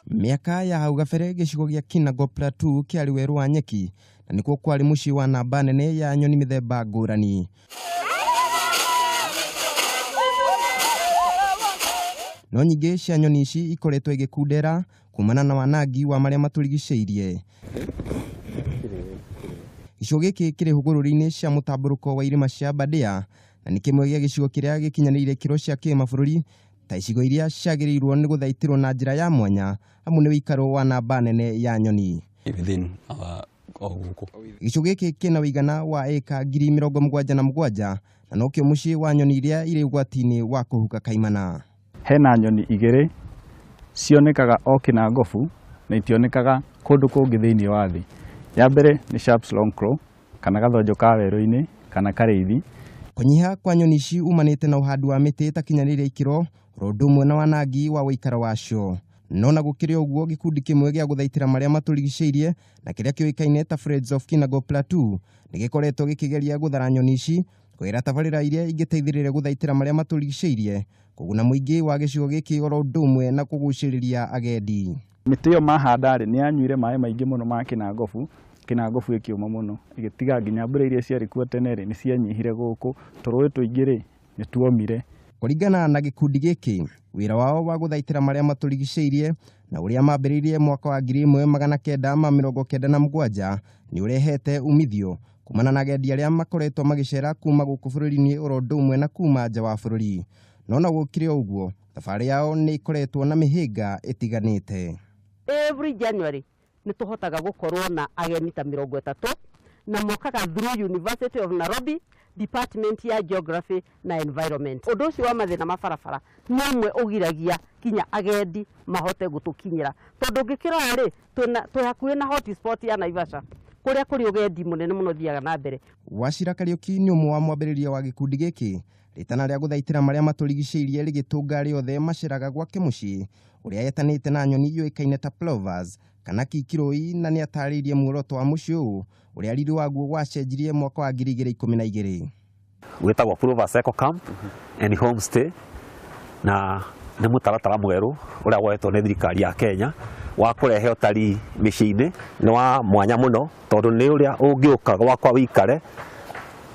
Mĩaka ya hau gabere gĩcigo gĩa Kinago Plateau kĩarĩ werũ wa nyeki na nĩkuo kwarĩ mũciĩ wa namba nene ya nyoni mĩthemba ngũrani. No nyingĩ cia nyoni ici ikoretwo igĩkundera kumana na wanangi wa marĩa matũrigicĩirie. Gĩcigo gĩkĩ kĩrĩ hũgũrũrũ-inĩ cia mũtambũrũko wa irĩma cia Aberdare na nĩ kĩmwe gĩa gĩcigo kĩrĩa gĩkinyanĩire ikĩro cia kĩmabũrũri ta icigo iria ciagĩrĩirwo nĩ gũthaitĩrwo na njĩra ya mwanya amu nĩ ũikaro wa namba nene ya nyoni. within our o gũkũ Gĩcigo gĩkĩ kĩna ũigana wa ĩka ngiri mĩrongo mũgwanja na mũgwanja na nokĩo mũciĩ wa nyoni iria irĩ ũgwati-inĩ wa kũhuka kaimana. Hena nyoni igĩrĩ cionekaga o Kĩnangobu na itionekaga kũndũ kũngĩ thĩinĩ wa thĩ. Ya mbere nĩ Sharps Long Crow kana gathonjo ka werũ-inĩ kana karĩithi. Kũnyiha kwa nyoni ici umanĩte na ũhandi wa mĩtĩ ĩtakinyanĩire ikĩro oro ũndũ ũmwe na wanangi wa ũikaro wacio. No na gũkĩrĩ o ũguo gĩkundi kĩmwe gĩa gũthaitĩra marĩa matũrigicĩirie na kĩrĩa kĩũĩkaine ta Friends of Kinango Plateau nĩgĩkoretwo gĩkĩgeria gũthara nyoni ici kwĩra tabarĩra iria ingĩteithĩrĩria gũthaitĩra marĩa matũrigicĩirie, kũguna mũingĩ wa gĩcigo gĩkĩ oro ũndũ ũmwe na kũgucĩrĩria agendi. Mĩtĩ ĩyo mahanda-rĩ, nĩ yanyuire maĩ maingĩ mũno ma kĩnangobu, kĩnangobu ĩkĩũma mũno, ĩgĩtiga nginya mbura iria ciarĩ kuo tene-rĩ, nĩ cianyihire gũkũ, tũrũĩ tũingĩ-rĩ, nĩ tuomire. Kũringana na gĩkundi gĩkĩ, wĩra wao wa gũthaitĩra marĩa matũrigicĩirie na ũrĩa mambĩrĩirie mwaka wa 1997 nĩ ũrehete umithio, kumana na agendi arĩa makoretwo magĩcera kuma gũkũ bũrũri-inĩ oro ũndũ ũmwe na kuma nja wa bũrũri no na gũkĩrĩ o ũguo thabarĩ yao nĩ ĩkoretwo na mĩhĩnga ĩtiganĩte every January nĩ tũhotaga gũkorwo na ageni ta mĩrongo ĩtatũ na mokaga through University of Nairobi department ya geography na environment. Ũndũ ũcio wa mathĩna ma barabara nĩ ũmwe ũgiragia kinya agendi mahote gũtũkinyĩra. Tondũ ũngĩkĩrora rĩ, twĩ hakuhĩ na hot spot ya Naivasha kũrĩa kũrĩ ũgendi mũnene mũno ũthiaga na mbere. Wachira Kariuki nĩ ũmwe wa mwambĩrĩria wa gĩkundi gĩkĩ. Rĩtana rĩa gũthaitĩra marĩa matũrigicĩirie rĩgĩtũnga arĩa othe maceraga gwake mũciĩ ũrĩa yetanĩte na nyoni yũĩkaine ta plovers kana kikirũi na nĩ atarĩirie muoroto wa mũciĩ ũyũ ũrĩa riri waguo wacenjirie mwaka wa ngiri igĩrĩ ikũmi na igĩrĩ. gwĩtagwo Provas Eco Camp and Homestay na nĩ mũtaratara mwerũ ũrĩa woetwo nĩ thirikari ya Kenya wa kũrehe ũtari mĩciĩ-inĩ. Nĩ wa mwanya mũno tondũ nĩ ũrĩa ũngĩũka gwakwa wĩikare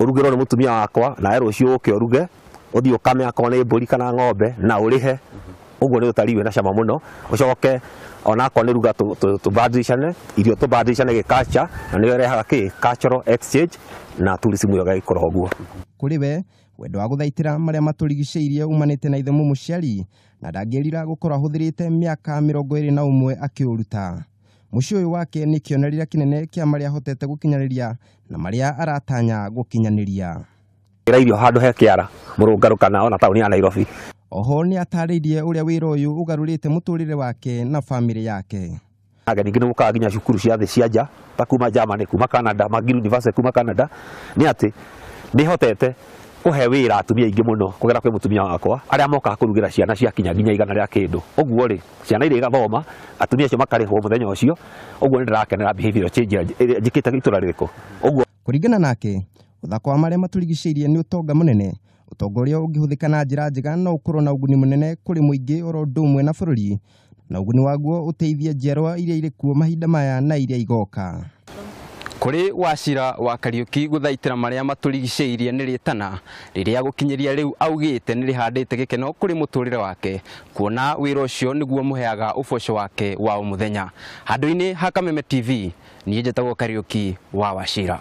ũrugĩrwo nĩ mũtumia wakwa nawe rũciũ ũke ũruge, ũthiĩ ũkame akorwo nĩ mbũri kana ng'ombe na ũrĩhe. ũguo nĩ ũtari wĩna cama mũno ũcoke onakorwo nĩ ruga tũ- tũ- tũbadilishane irio tũbadilishane gĩkacha na nĩyo ĩrehaga kĩ cultural exchange na tourism ĩyo ĩgagĩkũra ũguo kũrĩ we wendo wa gũthaitĩra marĩa matũrigicĩirie umanĩte na ithe mũmũciari na ndangĩrira gũkorwo ahũthĩrĩte mĩaka mĩrongo ĩrĩ na ũmwe akĩũruta mũciĩ ũyũ wake nĩ kĩonerera kĩnene kĩa marĩa ahotete gũkinyanĩria na marĩa aratanya gũkinyanĩria Gĩra irio handũ he kĩara, mũrũngarũ kana ona taũni ya Nairobi. Oho nĩatarĩirie ũrĩa wĩra ũyũ ũgarũrĩte mũtũrĩre wake na bamĩrĩ yake. Ageni aingĩ nĩmokaga nginya cukuru cia thĩ cia nja ta kuma Germany, kuma Canada, Magill University kuma Canada, nĩ atĩ nĩhotete kũhe wĩra atumia aingĩ mũno kũgera kwĩ mũtumia wakwa, arĩa mokaga kũrugĩra ciana ciakinya nginya igana rĩa kĩndũ. Ũguo-rĩ, ciana irĩgathoma, atumia acio makarĩhwo mũthenya ũcio, ũguo nĩndĩrakenera behavior change ĩrĩa njĩkĩte itũra rĩrĩ kũ. Ũguo. Kũringana nake, ũthaka wa marĩa matũrigicĩirie nĩ ũtonga mũnene. Ũtonga ũrĩa ũngĩhũthĩka na njĩra njega no ũkorwo na ũguni mũnene kũrĩ mũingĩ oro ũndũ ũmwe na bũrũri, na ũguni waguo ũteithie njiarwa iria irĩ kuo mahinda maya na iria igoka. Kũrĩ Wachira wa Kariũki gũthaitĩra marĩa matũrigicĩirie nĩ rĩtana rĩrĩa gũkinyĩria rĩu augĩte nĩrĩhandĩte gĩkeno kũrĩ mũtũrĩre wake kuona wĩra ũcio nĩguo mũheaga ũboco wake wa o mũthenya. Handũ-inĩ ha Kameme TV, niĩ njĩtagwo Kariũki wa Wachira.